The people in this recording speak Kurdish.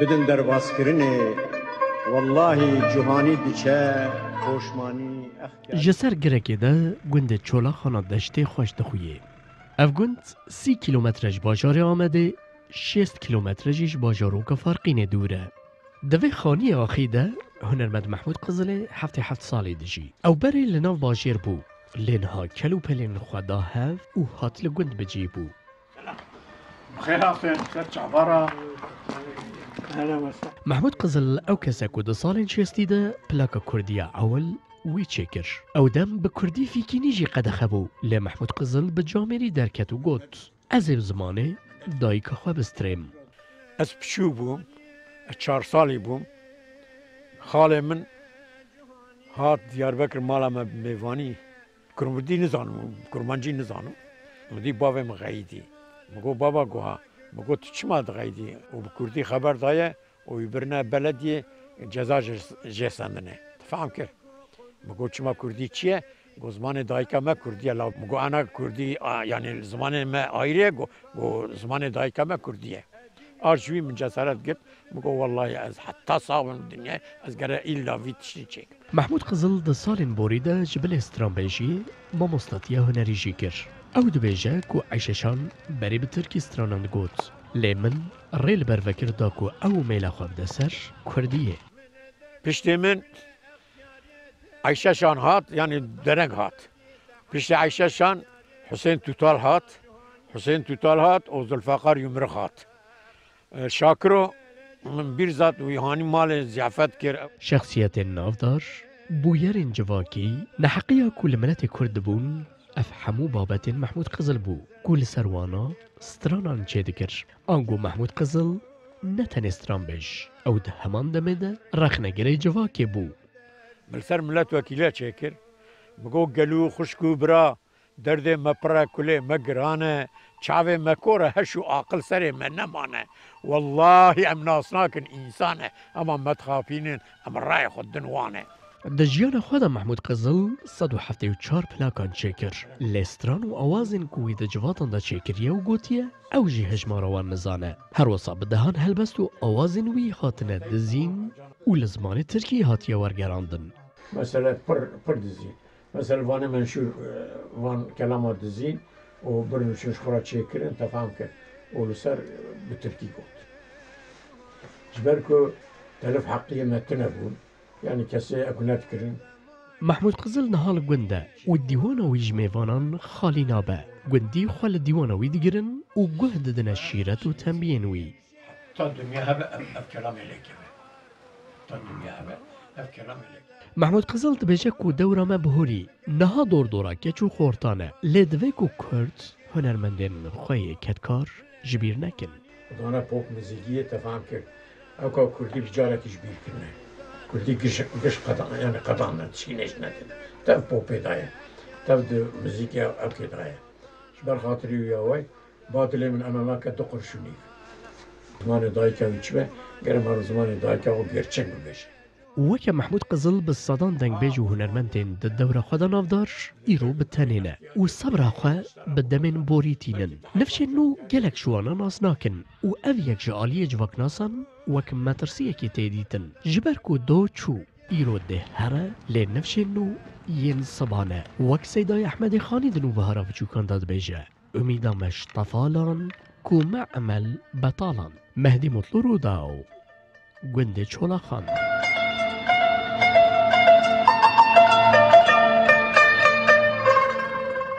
Bidin derbazkirinê wellahî cûhanî diçe poşmanî ex kerdin. Ji ser girekê de gundê Çolaxana Deştê xweş dixuyê. Ev gund sî kîlometre ji bajarê Amedê, şêst kîlometre jî ji bajaroka Farqînê dûr e. Di vê xaniyê axî de hunermend Mehmûd Qizilê heftê heft salî dijî. Ew berê li nav bajêr bû lê niha kel û pelên xwe da hev û hat li gund bicî bû. Mehmûd Qizil ew kes e ku di salên şêstî de plaka kurdî ya ewil wî çêkir. Ew dem bi kurdî fîkînî jî qedexe bû lê Mehmûd Qizil bi camêrî derket û got, Ez ê bi zimanê dayika xwe bistirêm. Ez piçûk bûm, ez çar salî bûm, xalê min hat Diyarbekir mala me mêvanî. Kurmurdî nizanim û kurmancî nizanim. Min dît bavê min xeyîdî. Min got baba guha. Min got tu çima dixeyîdî û bi kurdî xeber daye û wî birine beledîyê ceza jê sendinê. Tu fehm kir? Min got çima kurdî çi ye? Got zimanê dayîka me kurdî ye. La min got ana kurdî yanî li zimanê me ayrê ye? Got zimanê dayîka me kurdî ye. Ard ji wî min cesaret girt. Bigo wellahî ez heta sax bim li dinyayê ez gere îlla vî tiştî çêkim. Mehmûd Qizil di salên borî de ji bilê stranbêjî mamostatiya hunerî jî kir. Ew dibêje ku Eyşeşan berî bi tirkî stranan digot lê min rê li ber vekir da ku ew û mêla xwe bide ser kurdiyê. Piştî min Eyşeşan hat yanî dereng hat. Piştî Eyşeşan Husên Tûtal hat. Husên Tûtal hat û Zulfeqar Yumrix hat. Şakiro min bîr zat wî hanî malê ziyafet kir. Şexsiyetên navdar, bûyerên civakî, neheqiya ku li miletê Kurd dibûn, ev hemû babetên Mehmûd Qizil bû ku li ser wana stranan çêdikir. Ango Mehmûd Qizil ne tenê stranbêj, ew di heman demê de rexnegirê civakê bû. Li ser milet wekîle çêkir, bi got gel û xwişk û bira Derdê me pir e, kulê me giran e, çavê me kor e, heş û aqil serê me nemane. Wellahî em nas nakin însan e, hema me dixapînin em rayê xwe din wan e. Di jiyana xwe de Mehmûd Qizil sed û heftê û çar plakan çêkir, lê stran û awazên ku wî di civatan de çêkiriye û gotiye ew jî hejmara wan nizane. Her wisa bi dehan helbest û awazên wî hatine dizîn û li zimanê tirkî hatiye wergerandin. Mesele pir pir dizî Mesela vanê menşur van kelama dizîn û bir nûçûn ji xwe re çêkirin tefam kir û li ser bi tirkî got. Ji ber ku telif heqiyê me tune bûn, yanî kesê ew nedikirin. Mehmûd Qizil niha li gund e û dîwana wî ji mêvanan xalî nabe. Gundî xwe li dîwana wî digirin û guh didine şîret û tembiyên wî. Ta dinya hebe ev kelamê lê keve. Ta dinya hebe ev kelamê lê keve. Mehmûd Qizil dibêje ku dewra me bi hûrî niha dordora keç û xortan e. Lê divê ku kurd hunermendên xwe yê kedkar ji bîr nekin. Dana pop mizîkiyê tefam kir ew ka kurdî bi carekî ji bîr kirine. Kurdî giş qedana yanî qedana tişkî nêştine din. Tev popê daye. Tev di mizîkê evkê daye. Ji ber xatirî wî away Ba tu lê min ena nake tu qurşunîk. Zimanê dayika wî çi be? Ger em haro zimanê dayika xwe gerçek bibêjin. Weke Mehmûd Qizil bi sedan dengbêj û hunermendên di dewra xwe de navdar îro bi tenê ne û sebra xwe bi demên borî tînin. Nifşên nû gelek ji wan nas nakin û ev yek ji aliyê civaknasan wek metirsiyekê tê dîtin. Ji ber ku do çû îro dê here lê nifşên nû yên sebane wek Seydayê Ehmedê Xanî di nûbihara biçûkan de dibêje. Umîda me ji tefalan ku me emel betalan. Mehdî Mutlu Rûdaw, Gundê Çolaxan.